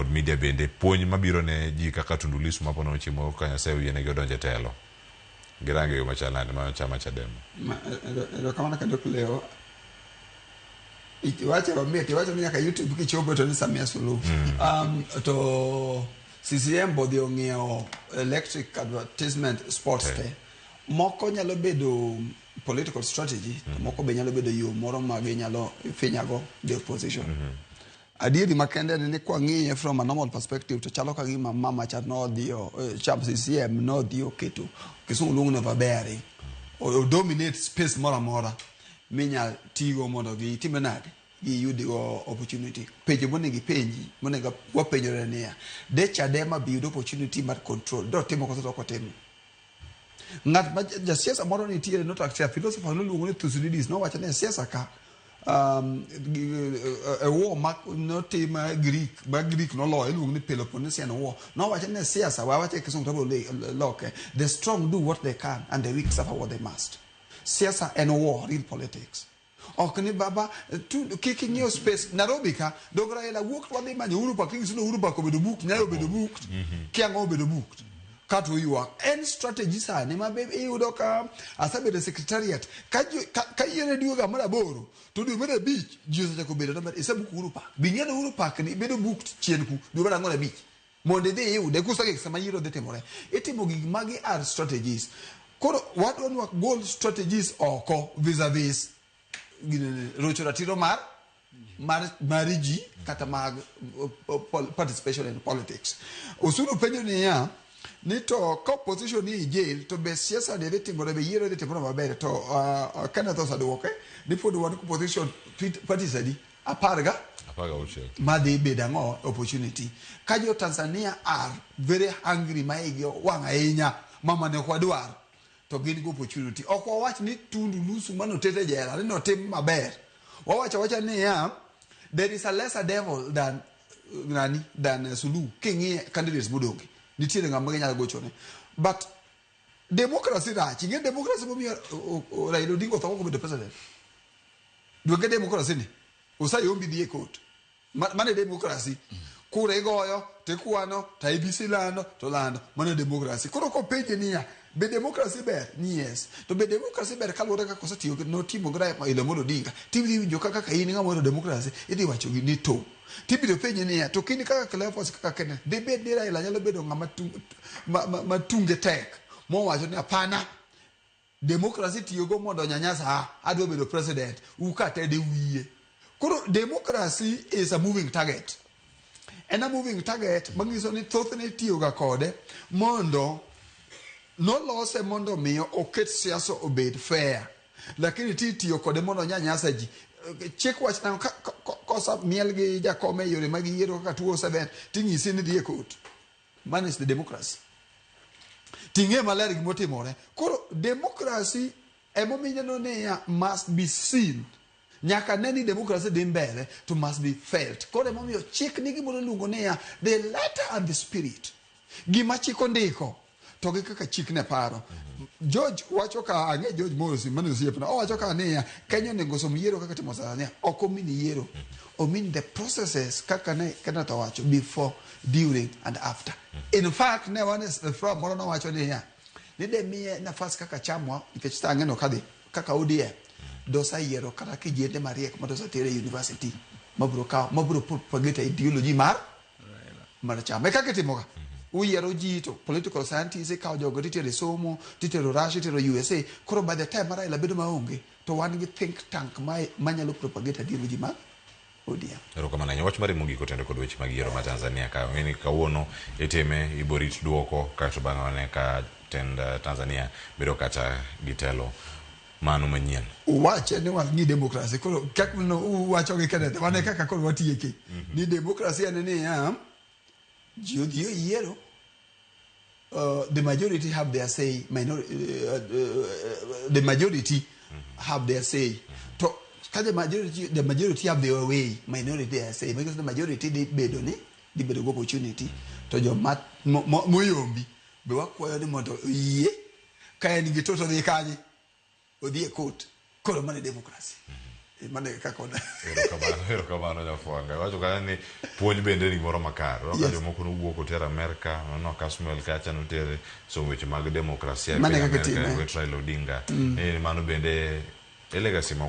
kod media bende puonj mabiro ne ji kaka Tundu Lissu ma ponono chieng' moro ka Nyasaye oyienegi odonjo e telo. Girange yo machal nade ma chama Chadema? Ma- ero- Erokamano ka dok leo. Iwacho mamit, iwacho ni nyaka YouTube kichopo to ni Samia Suluhu. Um, to CCM bodhi ong'iewo electric advertisement sports Te. te. Moko nyalo bedo political strategy, to moko be nyalo bedo yo moro ma ginyalo finyago the opposition. Adieri makende en ni kwang'iye from a normal perspective to chalo ka gima mama cha nodhi o- eh, cha CCM nodhi oketo kisungu luongo ni overbearing o o dominate space moro amora minya tigo mondo gitimre nade giyudigo opportunity penjo monego ipenji monego wapenjore niya de Chadema be yudo opportunity mar control dotimo koso dok otimo Ng'at ma jasiasa moro nitiere notakse a philosopher noluongo ni Thucydides nowacho ni siasa ka um, e war ma notim e Greek ma Greek noloyo iluongo ni Peloponnesian War nowacho ni siasa wawacho e kisungu tabro loke the strong do what they can and the weak suffer what they must siasa en war real politics Ok ni baba tu, kik ing'iew space Nairobi ka dog Raila wuok wadhi manyo Uhuru Park ing'isudo Uhuru Park obedo book Nyayo obedo book Kiang'o obedo book ka to ywak en strategy sani ma be iyudo ka asebedo e secretariat ka jo- ka- ka yiene dwe ga mar aboro to dwe mar abich ji osechako bedo namba isebook Uhuru Park bing'eyo Uhuru Park ni bedo book chien ku dwe mar ang'wen abich Mondo idhi iyude kusege gik sama yiero dhi timore. Itimo gik magi are strategies. Koro wadwa ni wagol strategies oko vis-a-vis rocho ratiro mar mar mar ji kata mag participation in politics. Osuru penjo niya ni to ka opposition ni e jail to be siasa ni dhi timore be yiero dhi timore maber to uh, Kenneth osaduoke ni pod wan opposition parties adi apar ga apar gauchiel madhi bedo ang'o opportunity ka jo tanzania are very hungry ma igi wang' ahinya mama ne ok wadwar to gin gi opportunity ok wawach ni tundu lusu manotet e jela ni notim maber wawacho wacha niya there is a lesser devil than uh, nani than uh, suluhu king'iye candidates modonge nitiere ng'ama ginyalo gochone but Democracy rach. Ing'e democracy momiyo o- o- Raila Odinga otho kok obedo president. Duonge democracy ni. Osayombi dhi e court. Ma- Mano e democracy. Kura igoyo, to ikwano, to IBC lando, to lando. Mano e democracy. Koro kopenje niya, be democracy ber? Ni yes. To be democracy ber kaluwore kaka osetiyo gi- notimo gi Raila Amolo Odinga? Tidhi winjo kaka ka in ng'ama ohero democracy, idhi wacho gi ni to. To ibiro penji niya, to kini kaka Kleopas kaka Kenneth, dibed ni Raila nyalo bedo ng'ama tu- ma- ma- ma tunge tek mowacho ni hapana, demokrasi tiyogo mondo nyanyasa a, adwa bedo president, ukatede wiye. Koro demokrasi is a moving target. En a moving target manyiso ni thothne itiyoga kode mondo nolose mondo miyo oket siasa obed fair lakini ti tiyo kode mondo onya nyasa ji chik wach nang'o ka- ka- ka- kosa miel gi jakome e yore mag yiero kaka tuo oseber tinyisi ni dhi e kot man is the democracy ting'e maler gimotimore koro democracy emomineno niya must be seen nyaka ne ni democracy dhi mbele to must be felt koro emomiyo chik ni gimoro iluongo niya the letter and the spirit gima chik ondiko to gi kaka chik ne paro. George wacho ka ang'e George Mosi mane osiepna owacho ka niya Kenya onego som yiero kaka timo sasa niya ok omin yiero omin the processes kaka ne Kenneth owacho before during and after in fact ne wan e s- e forum moro nowacho niya ni de miye nafas kaka chamwa nikech sa ang'eno kadhi kaka ODM dosa yiero kata kijende mariek ma dosa tere e university mabro kawo mabro propagate ideology mar mana chama e kaka itimoga uyiero ji to political scientist ikawo jogo titero e somo titero russia itero usa koro by the time ma raila bedo maonge to wan gi think tank ma- manyalo propagate adier ji ma odm erokamano ahinya wach mari mogik otendo kod weche mag yiero ma tanzania ka ong'e ni kawuono itime iborit dwoko kaeto bang'e wane ka tend eh, tanzania bedo kata gitelo mano manyien. Uwache ni wan gi demokrasi koro kak no uwacho gi kenete wan e kaka koro watieke ni demokrasi en ni ya ji odhi oyiero uh, the majority have their say minor, uh, uh, the majority have their say to ka the majority the majority have their way minority their say because the majority dhi bedo ni dhi bedo gi opportunity to joma mo- mo- moyombi be wakwayo ni mondo oyie Ka en gi to to dhi kanye? Odhi e court. Koro mane democracy. E, mane kaka ona. Erokamano, erokamano Nyafwanga. Iwacho kanyo ni puonj bende ni gimoro makare. Iwacho Yes. jomoko nowuok oter Amerka, nono Kasmuel kacha notere somo weche mag demokrasia e Mane piny kaka Amerka, itime. Wet Raila Odinga. Ni mano bende e legacy moko